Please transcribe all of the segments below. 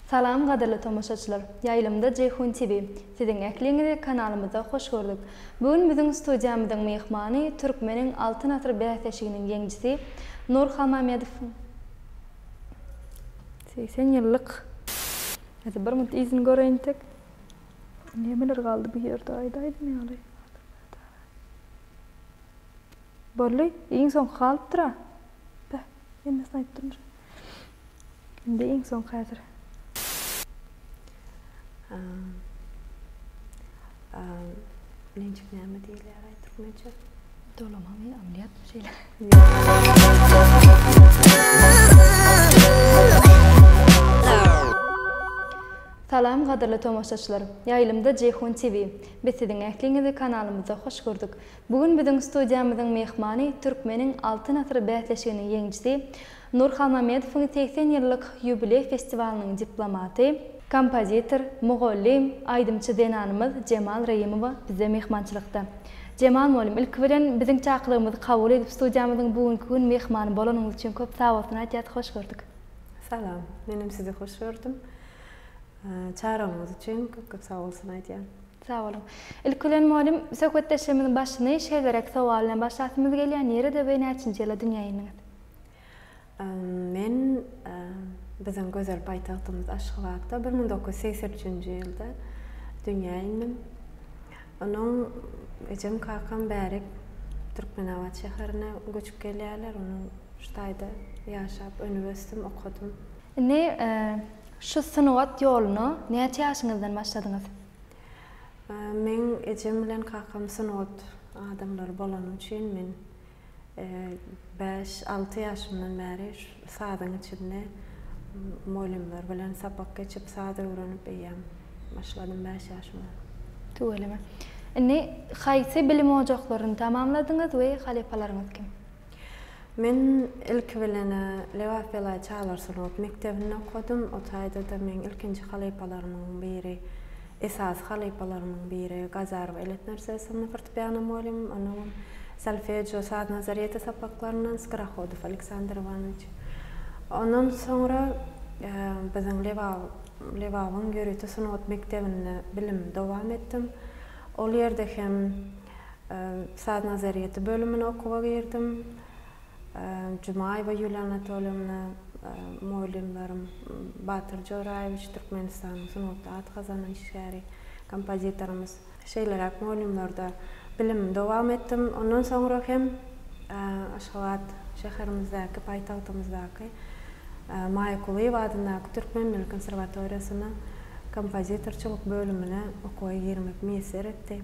Salam gadyrly tomaşaçylar! Ýaýlymda Jeýhun TV. Siziň ähliňizi kanalymyzda hoş gördük. Bu gün biziň studiýamyzyň myhmany Türkmeniň Altyn asyr bäsleşiginiň ýeňijisi Nur Halmamedowyň segsen ýyllyk Beh, hemmesini aýtdymdyr. Indi iň soňky häzir. Nenjik näme diýilýär-aý türkmençe? Dolamamy, ameliýatmy şeýle? Salam gadyrly tomaşaçylar! Ýaýlymda Jeýhun TV. Biz siziň ähliňizi kanalymyzda hoş gördük. Bu gün biziň studiýamyzyň myhmany Türkmeniň Altyn asyry bäsleşiginiň ýeňijisi, Nur Halmamedowyň segsen ýyllyk ýubileý festiwalynyň diplomaty, kompozitor, mugallym, aýdymçy zenanymyz Jemal Reýimowa bizde myhmançylykda. Jemal mugallym, ilki bilen, biziň çakyrygymyzy kabul edip, studiýamyzyň bu günki gün myhmany bolanyňyz üçin köp sagbolsun aýtýas, hoş gördük! Salam! Menem sizi hoş gördüm. Çagyrygyňyz üçin köp-köp sagbolsun aýdýan. Sag boluň. Ilki bilen mugallym, söhbetdeşligimiziň başyny şeýleräk sowal bilen başlasymyz gelýär, nirede we näçinji ýyla dünýä indiňiz? Men biziň gözel paýtagtymyz Aşgabatda bir müň dokuz ýüz segsen üçünji ýylda dünýä indim. Onuň ejem, kakam bäri Türkmenabat şäherine göçüp gelýärler. Onuň şu taýda ýaşap, önüp-ösdüm, okadym. Indi şu sungat ýoluna näçe ýaşyňyzdan başladyňyz? Meň ejem bilen kakam sungat adamlary bolany üçin men bäş, alty ýaşymdan bäri sazyň içinde mugallymlar bilen sapak geçip, saz öwrenip eýýäm başladym bäş ýaşymdan. Tüweleme. Indi haýsy bilim ojaklaryny tamamladyňyz we halypalaryňyz kim? Men ilki bilen-ä Lebap-Belaý çagalar sungat mekdebinde okadym. O taýda-da meň ilkinji halypalarymyň biri, esasy halypalarymyň biri Gazarow Elet Nursesowna fortepiano mugallymym, ondan öň solfejo, saz nazarýeti sapaklaryndan Skorohodow Aleksandr Iwanowiç. Ondan soňra biziň Lebabyň ýörite sungat mekdebinde bilimimi dowam etdim. Ol ýerde hem. Saz nazarýeti bölümine okuwa girdim. Jumaýewa Ýuliýa Anatolýewna, mugallymlarym, Batyr Joraýewiç, Türkmenistanyň sungatda at gazanan işgäri, kompozitorymyz. Şeýleräk mugallymlarda bilimimi dowam etdim. Ondan soňra hem Aşgabat şäherimizdäki, paýtagtymyzdaky Maýa Kulyýewa adyndaky Türkmen milli konserwatoriýasyna kompozitorçylyk bölümine okuwa girmek miýesser etdi.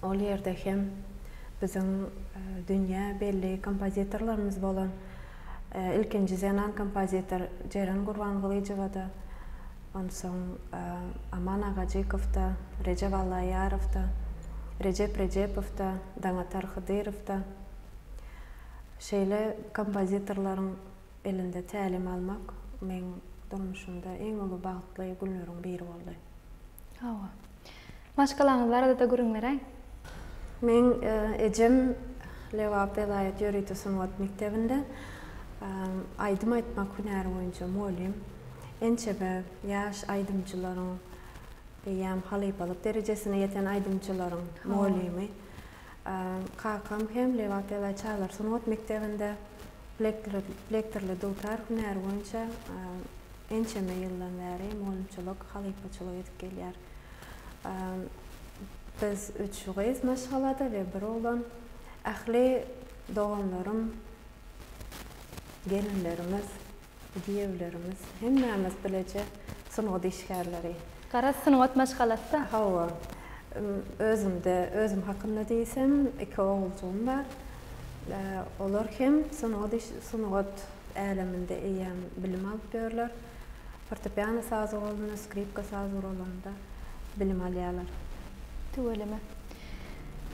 Ol ýerde hem biziň dünýä belli kompozitorlarymyz bolan ilkinji zenan kompozitor Jeren Gurbangylyjowa-da, onsoň Aman Agajykow-da, Rejep Allaýarow-da, Rejep Rejepow-da, Daňatar Hydyrow-da, şeýle kompozitorlaryň Elinde tälim almak meň durmuşymda iň uly bagtly günleriň biri boldy. Hawa. Maşgalaňyz barada-da gürrüň beräý. Meň ejem Lebap welaýat ýörite sungat mekdebinde aýdym aýtmak hünäri boýunça mugallym. Ençeme ýaş aýdymçylaryň eýýäm halypalyk derejesine ýeten aýdymçylaryň mugallymy. Kakam hem Lebap Ewaý Çalar sungat mekdebinde plektorly dutar hünäri boýunça ençeme ýyldan bäri mugallymçylyk, halypaçylyk edip gelýär. Biz üç gyz maşgalada we bir oglan. Ähli doganlarym, gelinlerimiz. Giýewlerimiz hemmämiz bileje sungat işgärleri. Garaz sungat maşgalasy-da. Hawa. Özümde, özüm hakynda diýsem, iki oguljygym bar. Olar hem sungat iş, sungat äleminde eýýäm bilim alyp ýörler. Fortepiano sazy bolanda, skripka sazy uralanda bilim alýarlar. Tüweleme.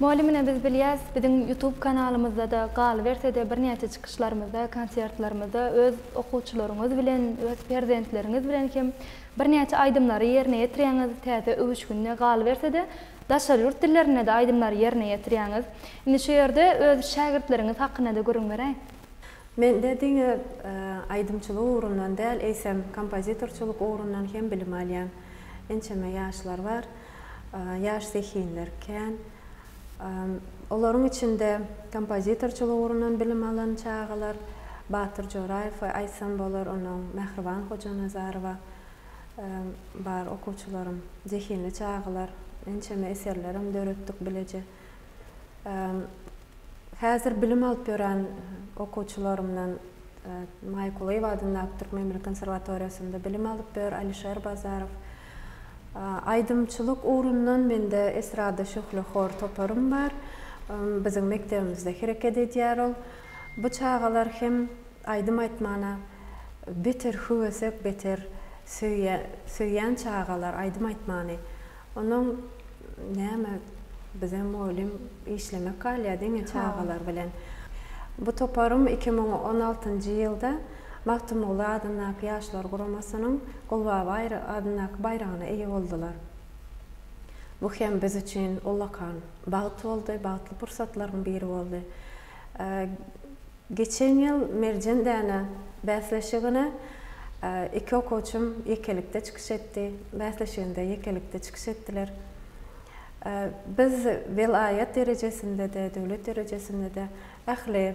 Mugallym ine biz bilýäs, biziň ýutub kanalymyzda-da, galyberse-de birnäçe çykyşlarymyzda, konsertlerimizde öz okuwçylaryňyz bilen, öz perzentleriňiz bilen hem birnäçe aýdymlary ýerine ýetirýäňiz, täze öwüşginde, galyberse-de daşary ýurt dillerinde-de aýdymlary ýerine ýetirýäňiz. Indi şu ýerde öz şägirtleriňiz hakynda-da gürrüň beräý. Mende diňe aýdymçylyk ugrundan däl, eýsem kompozitorçylyk ugrundan hem bilim alýan. Ençeme ýaşlar bar. Ýaş zehinler kän. Olaryň içinde kompozitorçylyk ugrundan bilim alan çagalar, Batyr Joraýew aýtsam bolar, ondan Mähriban Hojanazarowa bar okuwçylarym. Zehinli çagalar. Ençeme eserlerem döretdik bileje. Häzir bilim alyp ýören okuwçylarymdan Maýa Kulyýewa adyndaky Türkmen milli konserwatoriýasynda bilim alyp ýör Alişer Bazarow. Aýdymçylyk ugrundan mende Estrada şöhle hor toparym bar. Biziň mekdebimizde hereket edýär ol. Bu çagalar hem aýdym aýtmana beter höwesek, beter söýýän çagalar aýdym aýtmany. Onuň näme bize mugallym işlemek galýar diňe çagalar bilen. Bu toparym iki müň on altynjy ýylda Magtymguly adyndaky Ýaşlar guramasynyň Gulbaba adyndaky baýragyna eýe boldular. Bu hem biz üçin ullakan bagt boldy, bagtly pursatlaryň biri boldy. Geçen ýyl Merjen däne bäsleşigine iki okuwçym ýekelikde çykyş etdi. Bäsleşiginde ýekelikde çykyş etdiler. Biz welaýat derejesinde-de, döwlet derejesinde-de ähli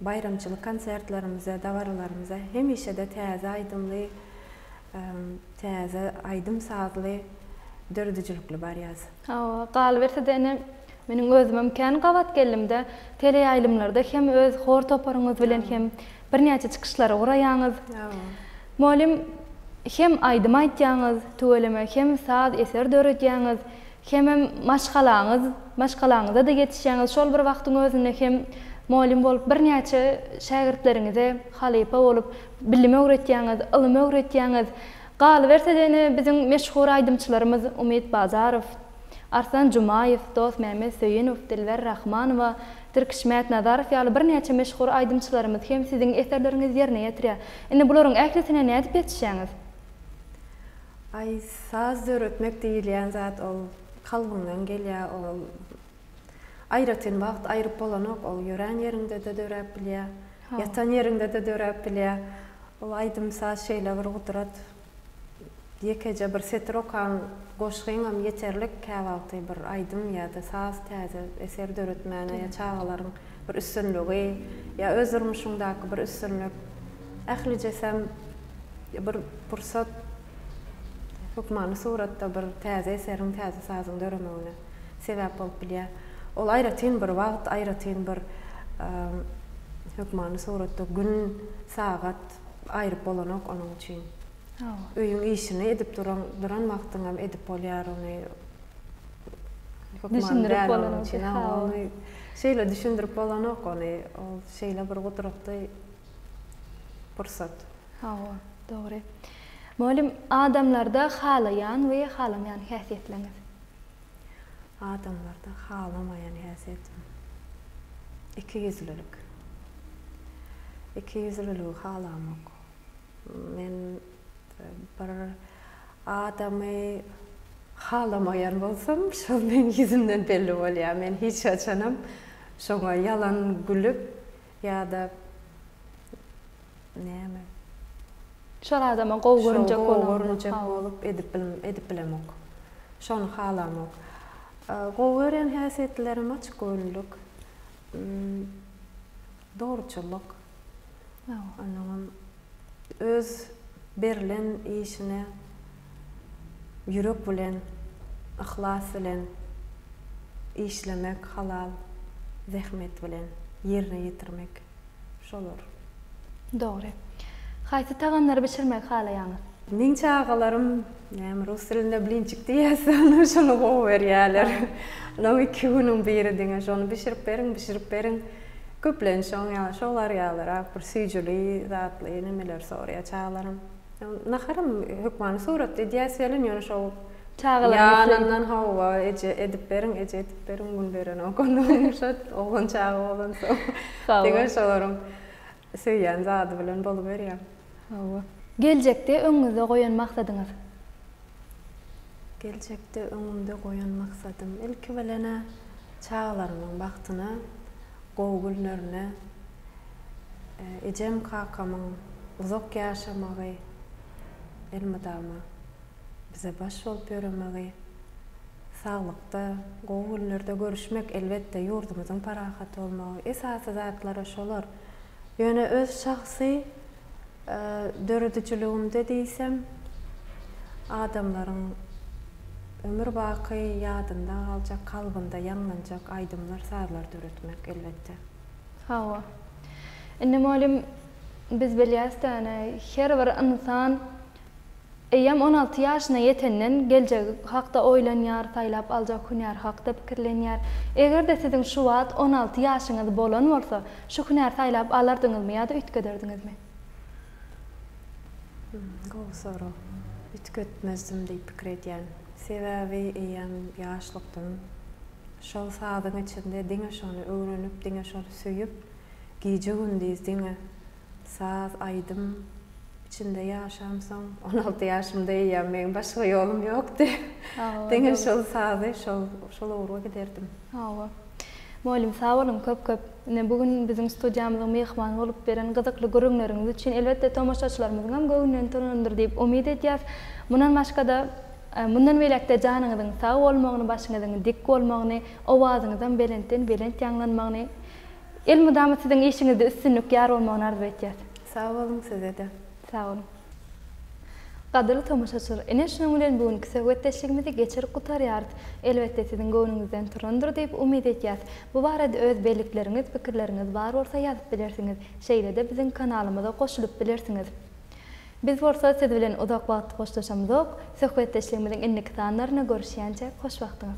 baýramçylyk konsertlerimize, dabaralarymyza hemişe-de täze aýdymly Täze aýdym sazly döredijilikli bar ýaz. Hawa, galyberse-de ine, meniň özümem kän gabat geldim-dä. Teleýaýlymlarda hem öz hor toparyňyz bilen hem birnäçe çykyşlary guraýaňyz. Mugallym, hem aýdym aýtýaňyz, tüweleme hem saz eser döredýäňiz, hemem maşgalaňyz, maşgalaňyza-da ýetişýäňiz. Şol bir wagtyň özünde hem mugallym bolup birnäçe şägirtleriňize halypa bolup, Bilim öwretýäňiz, ylym öwretýäňiz. Galyberse-de ine biziň meşhur aýdymçylarymyz Umyt Bazarow, Arslan Jumaýew, Dosmämmet Söýünow, Dilber Rahmanowa, Tirkiş Mätnazarow ýaly birnäçe meşhur aýdymçylarymyz hem siziň eserleriňizi ýerine ýetirýär. Indi bularyň ählisine nädip ýetişýäňiz? Aý, saz döretmek diýilýän zat ol kalbyňdan gelýär, ol Aýratyn wagt aýryp bolanok, ol ýörän ýeriňde-de döräp bilýä, ýatan ýeriňde-de döräp bilýä. Ol aýdym-saz şeýle bir gudrat, ýekeje bir setir okan goşgyňam ýeterlik käwagty bir aýdym ýa-da saz täze eser döretmäne ýa çagalaryň bir üstünligi ýa öz durmuşyňdaky bir üstünlik ählijesem bir pursat hökmany suratda bir täze eseriň täze sazyň döremegine. sebäp bolup bilýär. Ol aýratyn bir wagt, aýratyn bir hökmany suratda gün, sagat aýryp bolanok onuň üçin. Öýüň işini edip duran, duran wagtyňam edip bolýar ony. Düşündirip bolanok. Ony şeýle düşündirip bolanok ony. Ol şeýle bir gudratly pursat. Hawa, dogry. Mugallym, adamlarda halaýan we halamaýan häsiýetleriniz Adamlarda halamaýan häsiýetim. Ikiýüzlülik. Ikiýüzlüligi halamok. Men bir adamy halamaýan bolsam, şol meniň ýüzümden belli bolýar. Men hiç haçanam şoňa ýalan gülüp. Ýa-da näme? Şol adama gowy görünjek bolup. Şol gowy görünjek bolup edip edip bilemok. Şony halamok. Gowy gören häsiýetlerim açgöwünlik, dogruçyllyk. Onnoňam öz berlen işine Ýürek bilen, yhlas bilen işlemek, halal zähmet bilen ýerine ýetirmek, şolar. Dogry. Haýsy tagamlary bişirmegi halaýaňyz? Meň çagalarym, näme rus dilinde blinçik diýýäs, şony gowy görýärler. Onuň iki günüň biri diňe şony bişirip beriň, bişirip beriň. Köplenç şoň ýaly, şolar ýalyrak bir süýjüli zatly nemeleri soraýar çagalarym. Naharam hökmany suratda edýäs welin ýöne şol Çagalaryň üstüne. Ýanyndan hawa eje edip beriň eje edip beriň gün berenok onda ýumşat oglan çaga bolansoň Hawa. diňe şolaryň söýýän zady bilen boluberýär. Hawa. Geljekde öňüňizde goýan maksadyňyz? Geljekde öňümde goýan maksadym ilki bilenä çagalarymyň bagtyna Gowy günlerine ejem kakamyň uzak ýaşamagy elmydama bize baş bolup ýöremegi saglykda gowy günlerde görüşmek elbetde ýurdumyzyň parahat bolmagy esasy zatlara şolar ýöne öz şahsy Döredijiligimde diýsem, adamlaryň ömür baky ýadynda galjak, kalbynda ýaňlanjak aýdymlar, sazlar döretmek, elbetde. Hawa. Indi mugallym, biz bilýäs-dä, ine, her bir ynsan Eýýäm on alty ýaşyna ýetenden geljegi hakda oýlanýar, saýlap aljak hünäri hakda pikirlenýär. Eger-de siziň şu wagt on alty ýaşyňyz bolan bolsa, şu hünäri saýlap alardyňyzmy ýa-da üýtgederdiňizmi? Hum, gowy sorag. Üýtgetmezdim diýip pikir edýän. Sebäbi eýýäm ýaşlykdym. Şol sazyň içinde diňe şony öwrenip, diňe şony söýüp, gije-gündiz diňe Saz, aýdym içinde ýaşamsoň, on alty ýaşymda eýýäm meň başga ýolum ýokdy. Diňe şol sazy, şol, şol ugurga giderdim. Hawa. Mugallym, sag boluň köp-köp. Ine, bu gün biziň studiýamyzyň myhmany bolup beren gyzykly gürrüňleriňiz üçin, elbetde, tomaşaçylarymyzyň hem göwnünden turandyr diýip umyt edýäs. Mundan başga-da, mundan beýläk-de janyňyzyň sag bolmagyny, başyňyzyň dik bolmagyny, owazyňyzyň belentden-belent ýaňlanmagyny Elmydama siziň işiňizde üstünlik ýar bolmagyny arzuw etýäs. Sag boluň sizede. Sag boluň. Gadyrly tomaşaçylar, ine şunuň bilen bu günki söhbetdeşligimizi geçirip gutarýarys. Elbetde siziň göwnüňizden turandyr diýip umyt etýäs. Bu barada öz bellikleriňiz, pikirleriňiz bar bolsa ýazyp bilersiňiz. Şeýle-de biziň kanalymyza goşulyp bilersiňiz. Biz bolsa siz bilen uzak wagt hoşlaşamyzok, söhbetdeşligimiziň indiki sanlarynda görüşýänçä hoş wagtyňyz.